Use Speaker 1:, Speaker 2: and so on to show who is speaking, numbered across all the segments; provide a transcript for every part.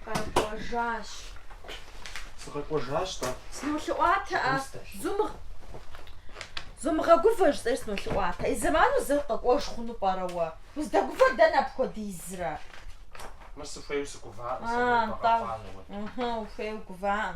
Speaker 1: Къэкӏуэжащ.
Speaker 2: Сыкъэкӏуэжащ-тӏэ. Сынолъэӏуатэ, а
Speaker 1: зумыгъ... Зумыгъэгувэ жысӏэри сынолъэӏуатэ. И зэману зэ къэкӏуэж хъуну пӏэрэ уэ? Уздэгувэр дэнэ апхуэдизрэ? Мыр сыхуейуэ сыгуваӏым
Speaker 2: сэ мыбы къэхъуанэуэ.
Speaker 1: Ухуейуэ угуваӏым.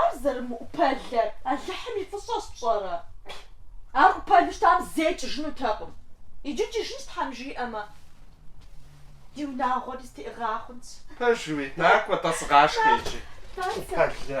Speaker 1: Ар зэрымыӏупэлэр Алыхьым и фӏыщӏэщ, пщӏэрэ? Ар ӏупэлу щытам зэи кӏыжынутэкъым. Иджы кӏыжынщ Тхьэм жиӏэмэ. Ди унагъуэри зэтеӏыгъа хъунщ. Пэжуи,
Speaker 2: накӏуэ-тӏэ, сыгъашхэ
Speaker 1: иджы,
Speaker 2: ӏупэлэ.